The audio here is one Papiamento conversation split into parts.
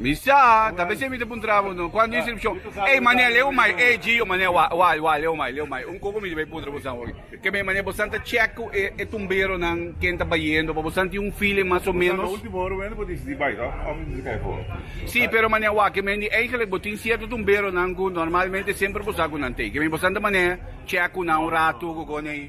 Mi sa, ta bese mi ta puntra bo no, cuan di inscripcion, ey mane a leu mai e gi o mane wa, wa, wa, leu mai, leu mai. Un coco mi ta bay puntra bosan hoy. Ke mei mane bosan ta check cu e, e tumberonan ken ta bayendo, pa bosan tin un feeling mas o menos. Bosan na ultimo ora wende bo disidi bay to, of disidi kay for. Si, pero mane a wa, ke mei di eigenlijk bo tin cierto tumberonan cu normalmente semper bo sa cu nan t'ey. Ke mei bosan ta mane check cu nan un rato, cu con ey.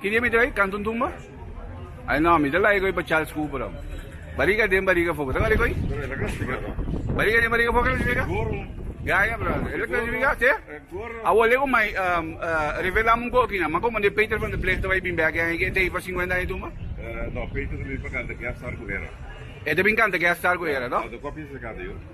Ki dia mi ta bay kantu un tumba? Ay no, mi ta laga e koy pa Charles Cooper aun. Bariga den bariga foga, ta ngari e koy? Bariga den bariga foga ta signifika? Gaya, brother. Eso ta signifika, te? Awor lego mai revelam un koki nan. Mako mande Peter van der Bleef ta bay bin bek aki e ta hei pa singuenta aña e tumba? No, Peter ta bin pa kanta Guest Star ku Hera. E ta bin kanta Guest Star ku Hera, no? Kua pensa e kanta, Yu?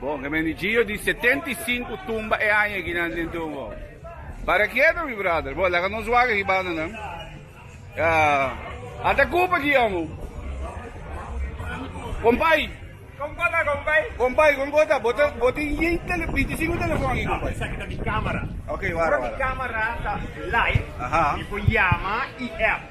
Bon, Hermenegildo di setenta i sinku tumba e aña aki nan den tumbo. Para kieto, mi brother. Bon, laga nos wak ribanda nan. Ah, ata kup aki, amo. Kompai. Kon ko ta, kompai? Kompai, kon ko ta? Bo ta, bo tin yen tele, binti sinku telefon aki, kompai? Esaki ta mi kamera. Ok, wara, wara. Mi kamera ta live. Aha. I por yama i app.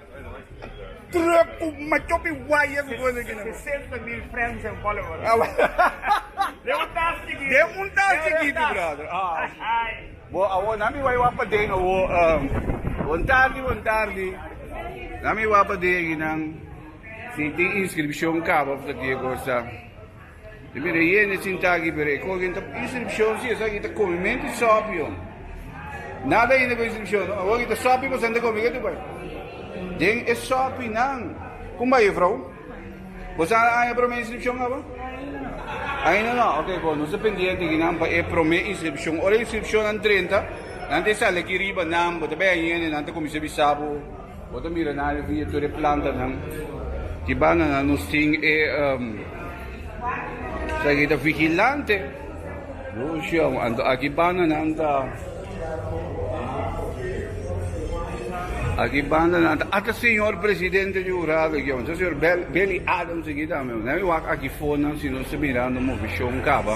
Truck cu macho pi waya cu cosa aki na bo. Sesenta mil friends and followers. Den un tas chikiti. Den un tas chikiti brother. Ay. Bo awor na mi wai wak pa den awor. Bon tardi bon tardi. Na mi wak pa den aki nan. Si tin inscripcion caba of ta kier cosa. E bira e hende sinta aki, pero e koki no ta pidi instruccion, si esaki ta komi mente di sòpio. Nada hinda ku instruccion, no. Awor ki ta sòpi pasobra nan ta komi, katu bai? Den e sòpinan. Kon bai jufrou? Bo sa nan aña promé instruccion aba? Ainda no. Ok, bon, nos ta pendiente aki nan pa e promé instruccion. Ora e instruccionnan drenta, nan ta e sali aki riba, nan, bo ta bai aña hende, nan ta kuminsá bisa bo. Bo ta mira na riba e tur e plantanan di banana nos tin e sarita vigilante produccion anto aki bananan ta aki bananan ta ata señor presidente di hurado aki tabata señor Belly Adams aki tambe nan e wak aki fonan si nos ta mirando movishon caba.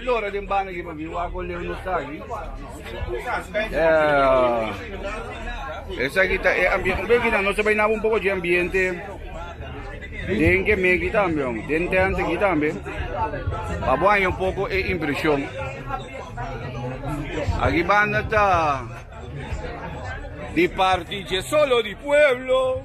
Lora den banda aki papi wak o leu no ta aki. Eh, esaki ta e ambiente. Bai kita nos bai naba un poco de ambiente. Den que me aquí también, den tent aquí también. Papo hay un poco e impresión. Aquí banda ta di parte de solo di pueblo.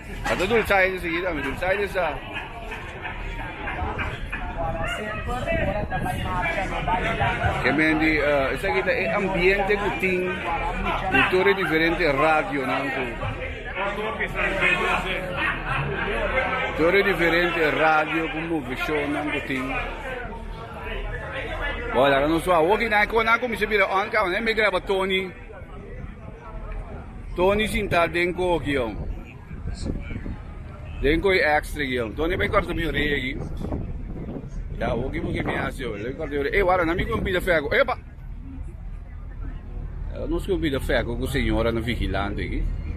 Nan ta dulce aye di seguida mi dulce aye di esa. Ke mendi esaki ta e ambiente ku tin den tur e diferente radionan ku tur e diferente radio ku move shownan ku tin. Bo a laga nos suawe. Woki nan e konan kuminsha bira on kabanan e migraba Tony. Tony sintá den ku hoki yon. Den ku e èks trek yon. Tony bai kòrta mi oreya aki. Ya hoki bo ke mi a hasi oe. Bai kòrta mi oreya. E wara nan mi kumpida fèku. Epa! Nos kumpida fèku ku señoranan vigilante aki.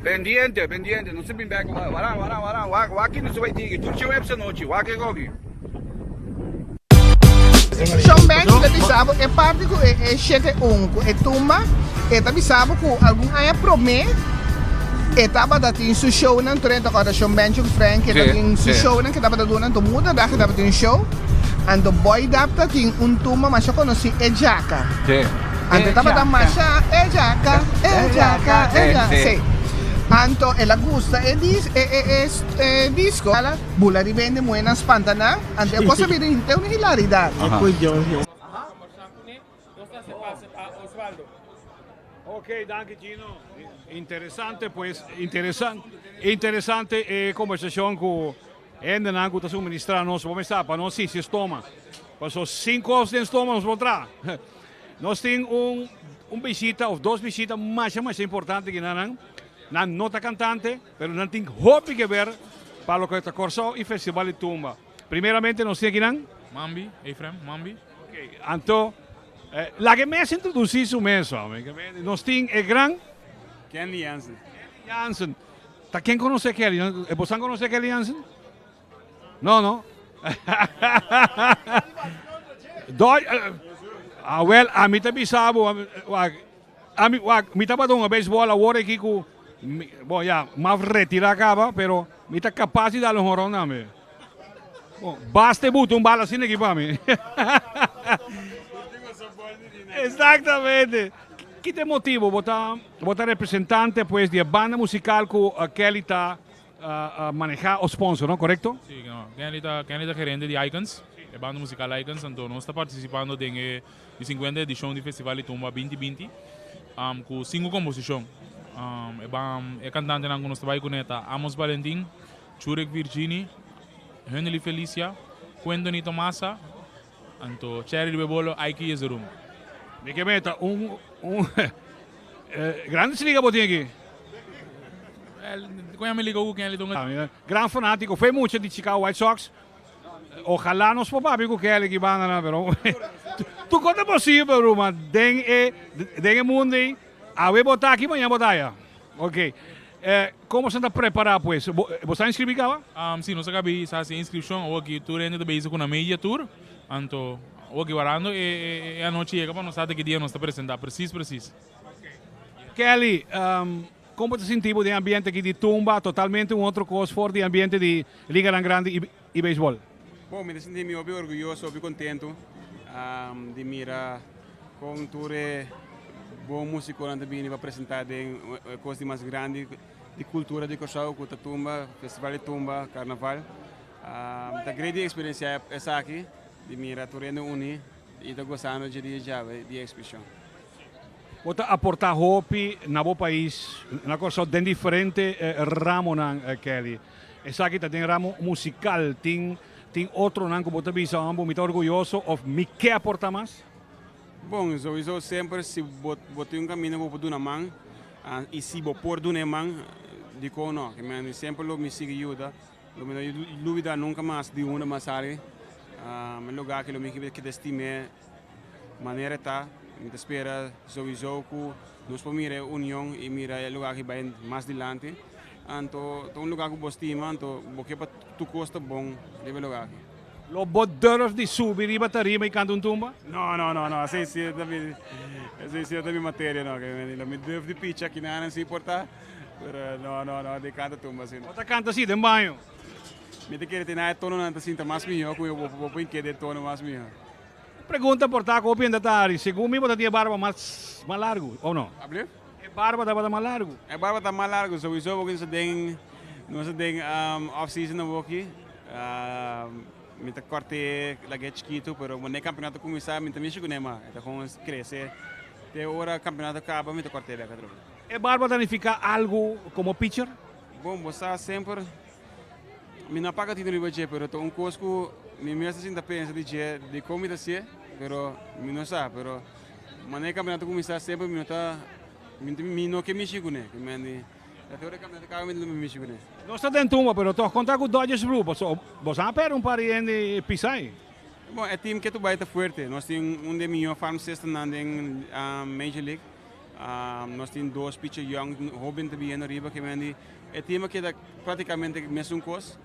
Pendiente, pendiente, nos a bin bek oba. Waran, waran, waran, wak, waki nos a bai tigi. Tur juebs anochi, wak e gogi. Sean Banks ta bisa bo e parti ku e shete un ku e tumba e ta bisa bo ku algun aña promé e tabata tin su shownan tur e ta kòrda Sean Banks ku Frank e ta tin su shownan ku e tabata duna anto muda dag e tabata tin show anto Boy Dapta tin un tumba masha konosí e Jaka. Ante tabata masha e jaka, e jaka, e jaka. Sí. Anto el a gusta e dis, e, e, e, e disco. Ala, bula riba hende muhe nan spanta nan. Ante e cosa bira hinte un hilaridad. Aha. Cu Jorge. Ok, danki Gino. Interesante pues, interesan, interesante e conversacion cu hendenan cu ta suministra nos. Bo mestaba pa nos si si stoma. Paso sin cos den stoma nos por traha. Nos tin un un bishita of dos bishita masha masha importante kina nan, nan no ta kantante pero nan tin hopi ke ber pa loke ta Kòrsou i Festival di Tumba. Primeramente nos tin aki nan. Mambi, Efraim Mambi. Oke, anto laga e mes introdusí su mes hombre. Nos tin e gran. Kenly Jansen. Kenly Jansen. Ta ken konosé Kenly? Bo sa konosé Kenly Jansen? No, no. Doj, uh, ah, well, a mi ta bisabu, a mi, wak, a mi, wak, mi ta pa dunga beisbol awor aki ku, mi, bon, ya, maf retira kaba, pero mi ta kapas di dal un honron tambe. Bon, basta e butu un bal asina aki pa mi. Exactamente. Kite motibu bo ta, bo ta representante, pues, di e banda musikal ku uh, Kelly ta a maneha o sponsor no correcto? Si Kenly ta Kenly ta gerente di Icons e banda musical Icons anto nos ta participando den e di cincuenta edicion di festival di tumba binti binti cu cinco composicion e ban e cantantenan cu nos ta bay cune ta Amos Valentin Churek Virgini Henely Felicia Quentony Tomasa Anto Cherry di Bebolo ai ki yese rumbo. Mi ke meta un un Grandes Liga bo tin aki? Well, kon ya mi liga ku Kenley Tonga. Gran fanatiko fe mucha di Chicago White Sox. Ojalá nos por papia ku Kenley ki bandanan pero tuko ta posibel Ruma den e den e mundo ey awe bo ta aki maña bo ta aya. Ok. E como esnan ta prepara pues? Bo sa inscribi caba? Um, si, nos a cabi sa haci e inscripcion. Awoki tur hende ta bezig cu na media tur. Anto, awoki warando e e anochi yega pa nos sa ta ki dia nos ta presenta precies precies. Kelly, um, como bo ta sinti bo den ambiente aki di tumba, totalmente un otro cos for di ambiente di liganan grandi y. y beisbol. Bo, mi ta sinti mi hopi orguyoso, hopi contentu di mira con tur e bon musiconan ta bini pa presenta den e cos di mas grandi di cultura di Curaçao cu ta tumba, Festival di Tumba, Carnaval. Mi ta grei di experiencia esaki, di mira tur hende uni y ta gozando dje dia djawe di e exbition. Bo ta aportá hopi na bo pais, na Kòrsou, den diferente ramonan, Kelly. Esaki ta den ramo musikal. Tin tin otronan ku bo ta bisa, Hombro, mi ta orguyoso òf mi ke aportá mas? Bon, souiso semper si bo bo tin un kaminda ku bo por duna man, i si bo por duna e man, dikon nò? Ke mi a semper lo mi sigui yuda. Lo mi no lubida nunka mas di unda mi a sali. E luga aki lo mi kiba keda stim'é manera e ta. Mi ta spera souiso ku nos por mira e union i mira e luga aki bai mas dilanti. Anto ta un luga ku bo stima, anto bo ke pa tur kos ta bon riba e luga aki. Lo bo durf di subi riba tarima i kanta un tumba? No, no, no, no. Esei si no ta mi materia, no. Lo mi durf di picha, kinanan si por ta. No, no, no, di canta tumba asina. Bo ta canta así den baño? Mi ta kere tene e tononan ta sinta mas mihó cu mi bo bo por keda e tono mas mihó. Un pregunta por ta cu hopi hende ta hari. Segun mi bo ta tin e barba mas mas largu o no? Alsjeblieft? E barba tabata mas largu. E barba ta mas largu souiso porque nos ta den nos ta den off season awoki. Mi ta corte lagu'e chikitu pero mane campeonato a cuminsa mi no ta mishi cune mas. E ta gong crece te ora campeonato caba mi ta corte bek atrobe. E barba ta nifiká algu komo picher? Bon, bo sa semper, mi no a paga tintru riba dje, pero ta un kos ku mi mes ta sinta pensa di dje dikon mi ta hasié, pero mi no sa. Pero manera e kaminat a kuminsá semper mi no ta mi no ke mishi kuné, ke mendi ta tur e kaminat di kaba mi ta luma mishi kuné. Nos ta den tumba, pero tòg kontrá ku Dodgers Blue pasobra boso a pèrdè un par di hende pisa ahí. Bon, e tim ke ta bai ta fuerte. Nos tin un di e mihó farm systemnan den Major League. Nos tin dos pichi yòn, hóben ta biendo riba ke men di. E tema keda práktikamente mesun kos.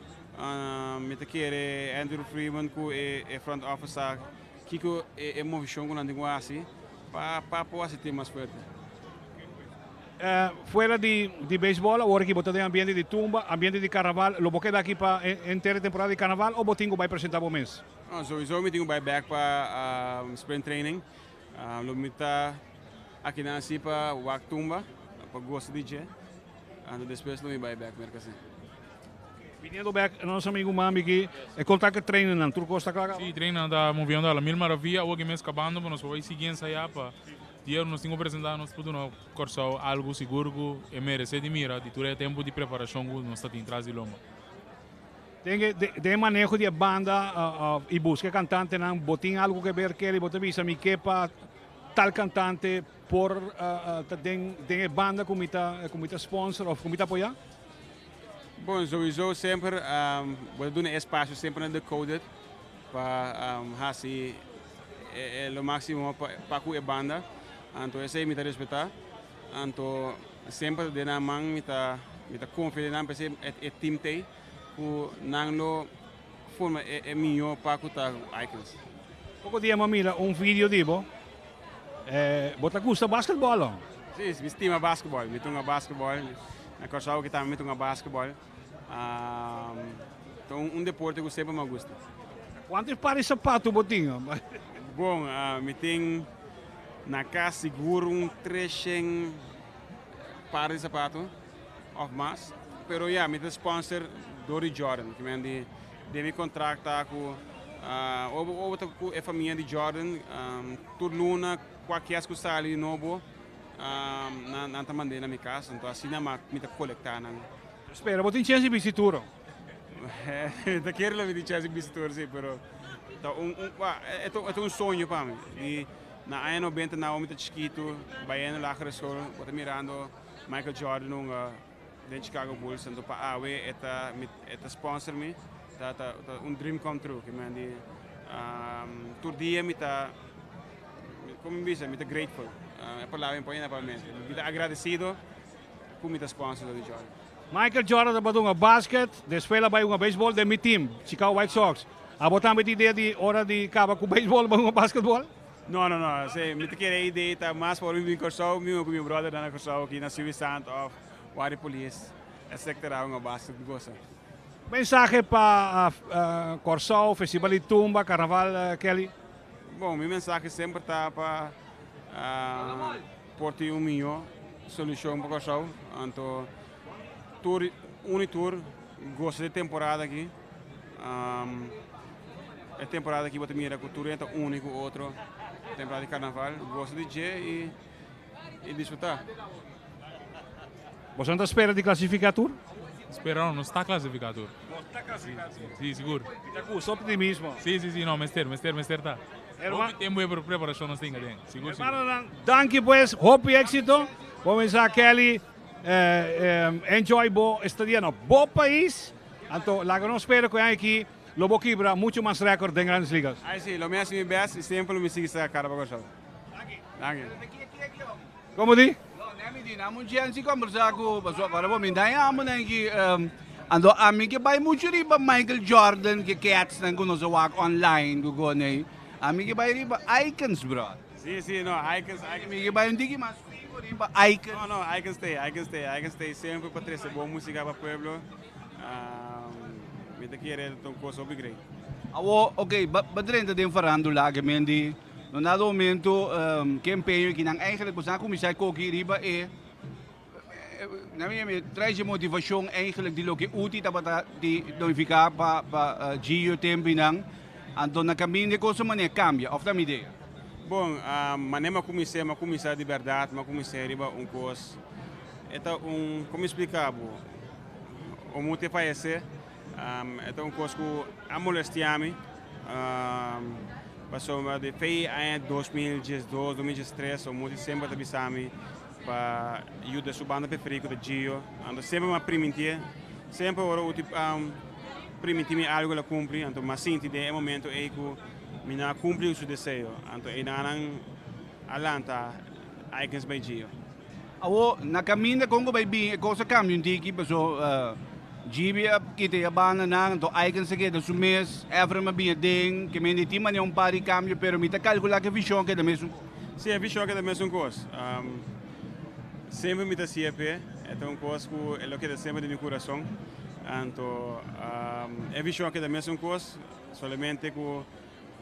Mi ta kere Andrew Freeman ku e front office sa kiko e movishon ku nan tin ku hasi pa pa por hasi tin mas fuerte. Fuera di beisbòl awor aki bo ta den ambiente di tumba, ambiente di karnaval. Lo bo keda aki pa henter e temporada di karnaval o bo tin ku bai presentá bo mes? Souizou mi tin ku bai bèk pa spring training. Lo mi ta akinan así pa wak tumba, pa gosa di dje, anto despues lo mi bai bek Merkazin. Biniendo bek nos amigu Mambi aki, e contacta treinennan, tur cos ta cla caba? Sí, treinennan ta moviendo a la mil maravia, awoki mes cabando pero nos por bai sigui ensaya pa di hora nos tin cu presenta nos putuna Corsou algu sigur cu e merece di mira di tur e tempo di preparacion cu nos ta tin tras di loma. Den e maneho di e banda i buska e kantantenan, bo tin algu ku e Berkeley? Bo ta bisa mi ke pa tal kantante por ta den e banda ku mi ta sponsor òf ku mi ta apoyá? Bon, souiso semper bo ta duna e espasio semper na Decoded pa hasi lo máksimo pa ku e banda. Anto esei mi ta respetá. Anto semper den nan man mi ta konfia den nan, p'esei e tim t'ei. ku nan lo forma e miño pa ku ta Icons. Poko dia mi a mira un video di bo, bo ta gusta basketbal ho? Si, mi stima basketbal, mi ta hunga basketbal, na Kòrsou aki tambe mi ta hunga basketbal, ta un deporte ku semper mi a gusta. Kuantu par di sapatu bo tin? Bon, mi tin na kas sigur un tres shen par di sapatu. Of mas. Pero ya, mi ta sponsor dor di Jordan. Ki men di, den mi contract ta cu ah, o bo, o bo ta cu e famia di Jordan, um, tur luna, cua kies cu sali di nobo, um, nan, nan ta mand'e na mi casa. Anto asina ma mi ta colecta nan. Spera, bo tin chance di bisti tur oh? Mi ta kere lo mi tin chance di bisti tur, si, pero ta un, un, bah, e ta, e ta un soño pa mi. Di na aña nobenta, na awo mi ta chikitu, bayendo lagere school, bo ta mirando. Michael Jordan hunga den Chicago Bulls tanto pa awe e ta mi e ta sponsor mi ta ta ta un dream come true ke mi a di um, tur dia mi ta como mi bisa mi ta grateful uh, e palabra mi pone na pa mente mi ta agradecido cu mi ta sponsor di Jordan Michael Jordan tabata hunga basket despues la bai hunga baseball den mi team Chicago White Sox abo tambe ta idea di ora di caba cu baseball bai hunga basketball? No no no se mi ta kere idee ta mas for mi bin Kòrsou mi ui ku mi brother nan na Kòrsou aki na Suwisant of Wari Polis esèkte ra un obas di gosa. Mensahe pa Kòrsou Festival di Tumba Karnaval Kelly. Bon mi mensahe semper ta pa por tin un mihó solushon pa Kòrsou anto tur uni tur gosa di temporada aki. E temporada aki bo ta mira ku tur hende ta uni ku otro, temporada di karnaval. Gosa di dje i disfrutá. Boso no ta spera di klasifiká tur? Spera no, nos ta klasifiká tur. Nos ta klasifiká tur? Sí, sigur. I ta ku su optimismo. Sí, sí, sí, no, mester, mester, mester ta. Hopi tempu e preparashon nos tin aden, sigur, sigur. Hermanonan, danki pues, hopi éksito. Bo mensá Kelly enjoy bo estadia no bo pais. Anto laga nos spera cu e aña aki lo bo kibra mucho mas record den Grandes Ligas. Ay si, lo mi haci mi best y siempre lo mi sigui sa cara pa Kòrsou. Danki. Como di? No, ne mi di, nan mucho gente conversa cu pasobra ahora bo mi dai amo nan aki, anto ami ke bai mucho riba Michael Jordan ke kets nan cu nos a wak online cu gono ey, ami ke bai riba Aikens brother. Si, si, no, Aikens, Aikens. Mi ke bai un tiki mas fiho riba Aikens. No, no, Aikens stay, Aikens stay, Aikens stay siempre pa trece bon musica pa pueblo. Mi ta kere el ta un kos hopi great. Awo, ok, ba drenta den farandula ke men di no nada momento ke empeño ki nan eigenlijk por sa nan kuminsá koki riba e na mi yami trae dje motivashon eigenlijk di loke Uti tabata di planifiká pa pa Gio tempi nan anto na kaminda e kos a manera kambia òf ta mi idea? Bon, manera mi a kumins'é mi a kuminsá di bèrdat mi a kumins'é riba un kos. E ta un, como mi splica bo, o muti e fayece, e ta un cos cu a molestia mi, pasobra di fe y aña dos mil diesdos, dos mil diestres, o muti semper a ta bisa mi pa yuda su banda preferido cu ta Gio, anto semper mi a priminti e, semper ora Uti a priminti mi algo el a cumpli, anto mi a sinti den e momento ey cu mi no a cumpli su deseo, anto ey nan a lanta aikens bay Gio. Awo, na kaminda Congo bai bin e kos a kambia un tiki paso GB a kita i a banda nan, anto Aikens a keda su mes, Efraim a bin aden, ke mende a tin mane un par di kambio pero mi ta kalkula ku e vishon a keda mesun kos. Si, e vishon a keda mesun kos. Semper mi ta si'e p'e, e ta un kos ku e lo keda semper den mi kurason, anto e vishon a keda mesun kos, solamente ku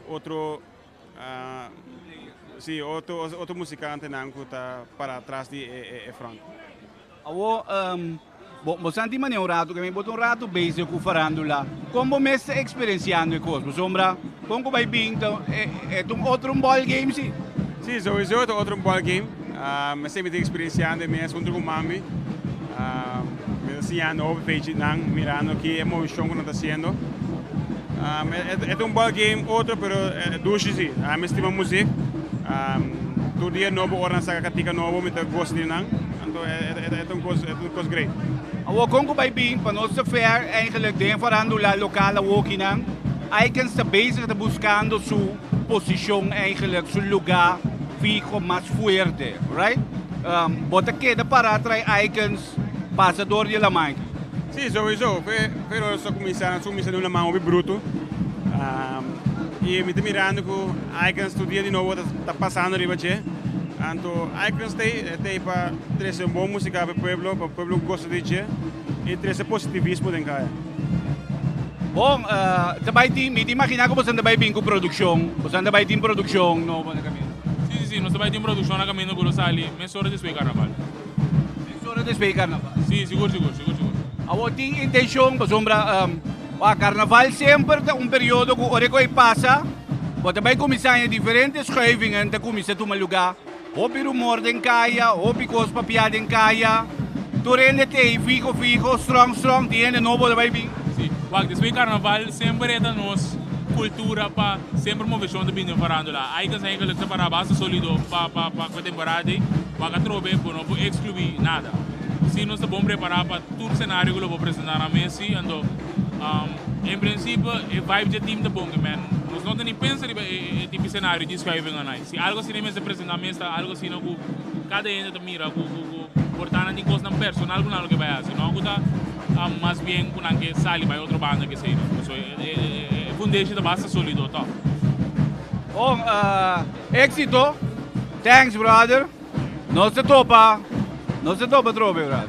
otro. Si, otro musikantenan ku ta pará tras di e front. Awo, bo santi manera un ratu ke mi bo ta un ratu bezig ku farandula. Kon bo mes ta eksperensiando e kos? Bo sombra kon ku bai bin ta un otro bòl game si? Si, souiso ta otro bòl game. Mesey mi ta experienciando e mes hunter cu manmi. Mi ta siñando hopi pechitnan, mirando aki e movicion cu nan ta haciendo. E ta un ball game otro, pero dushi si. Mi stima music. Tur dia nobo, ora nan saca catica nobo, mi ta goza di nan. Anto e ta un cos great. Awor con cu bay bin pa nos te fair, eigenlijk den farandula local awokinan, Aikens ta bezig ta buscando su. Posishon eigenlijk su luga fiho mas fuerte right bo ta keda para trai aikens pasa dor di laman. Si sowiso pero lo sta kuminsando asun mi sa duna man hopi brutu i mi ta mirando ku aikens tur dia di nobo ta pasando riba dje anto aikens stay e ta e pa trese un bon musika pa e pueblo pa pueblo gosa di dje. E trece positivismo den kaya. Bon, ta bai tin, mi ta imaginá ku boso ta bai bin ku produkshon. Boso ta bai tin produkshon nobo na kaminda. Sí, sí, sí, nos ta bai tin produkshon na kaminda ku lo sali mes ora despues di karnaval. Mes ora despues di karnaval. Sí, sigur, sigur, sigur, sigur. Awor tin intenshon, pasobra, wak, karnaval semper ta un periodo ku ora ku e pasa, bo ta bai kuminsá, e diferente schuivingen ta kuminsá tuma lugá. Hopi rumor den kaya, hopi kos pa pia den kaya. Tur hende te ei fiho fiho, strong strong, tin hende nobo lo bai bin. Sí, wak despues di carnaval semper e ta nos cultura pa semper movecion ta bin den farandula. Ai ta saña ke lo ta separá basta solido pa pa pa ku e temporada ei, wak atrobe bo no por excluí nada. Sí nos ta bon prepará pa tur scenario ku lo por presentá nan mes, sí. Anto, en principio e vibe dje team ta bon, men nos no ta ni pensa riba e e tipo scenario di schuiven anai. Si algo asina mester presenta mester algo asina cu cada hende ta mira cu porta nan di cosnan personal cu nan lo ke bay haci no cu ta mas bien cu nan ke sali bay otro banda kesey no pasobra e foundation ta basta solido toh. Bon exito thanks brother nos ta topa nos ta topa trobe brother.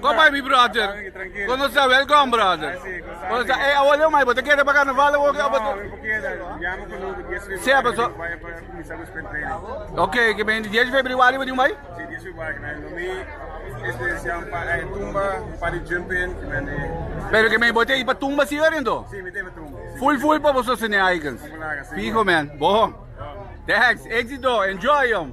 Kon bai mi brother? Kon nos ta welkom brother. Kon nos ta ey awor leu mai bo ta keda pa carnaval awor ke abo ta Sea paso Ok ke bende dies di febriwari bo tin bai? Pero ke bende bo ta i pa tumba si orin to? Full full pa bo sostené aikens. Fiho man. Bo. Thanks. Exito. Enjoy yom.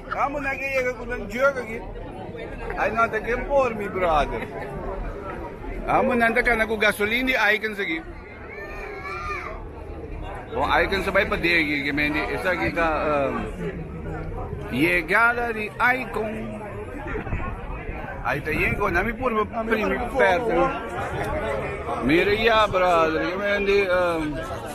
Amo nan a yega cu nan jurk aki. Ai no ta ken por mi brother. Amo nan ta cana cu gasolin di Aikens aki. Con Aikens a bai pader aki que men di esaki ta um, yegada di Aikon. Ai ta yen con nami por primi perte. Mira ya brother que men di um,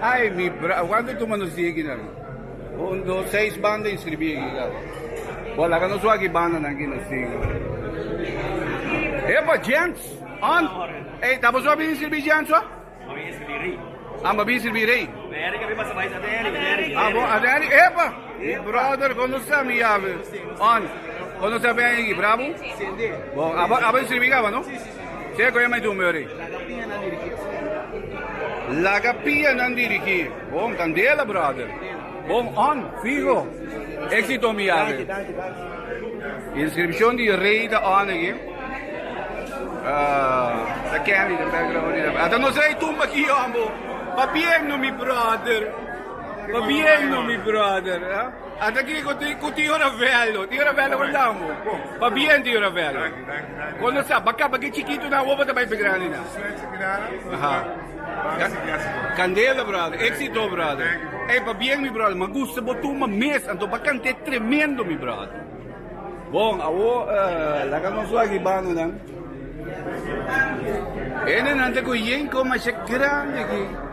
Ai mi bra a cuanto tuma nos di aki na ri un dos seis banda inscribi aki ga bo bo laga nos wak e banda nan ki nos tin epa gents on ey ta boso a bin inscribi gents ho a bo a bin inscribi rey abo a den a ri epa mi brother con nos ta mi yawe on con nos ta beni aki brabo bo abo a bo inscribi caba no. Ke ku e mai duna Mary? Laga pianan dirigí, Oscar. Laga pianan dirigí. Bon kandela, brother. Bon on, fiho. Éxito mi yawe. Danki, danki, danki. Inscripcion di Rey ta on aki. Ta Kenny den background aki. Ata nos Rey tumba aki hombo. Pa bien no mi brother. Pa bien no mi brother. Ata ki ku tin ku tio Ravelo. Tio Ravelo por dam bo. Pa bien tio Ravelo. Danki danki danki. Kondo sa ba kaba ki chikitunan woba ta bai p'graninan. Suerte grana. Aha. Banga si biaha si bo. Candela brother, exito brother. Thank you bro. Ey pa bien mi brother, ma gusta bo tuma mes, anto ba cante tremendo mi brother. Bon, awo laga nos wak banda nan. Hendenan ta cu yen con masha grandi aki.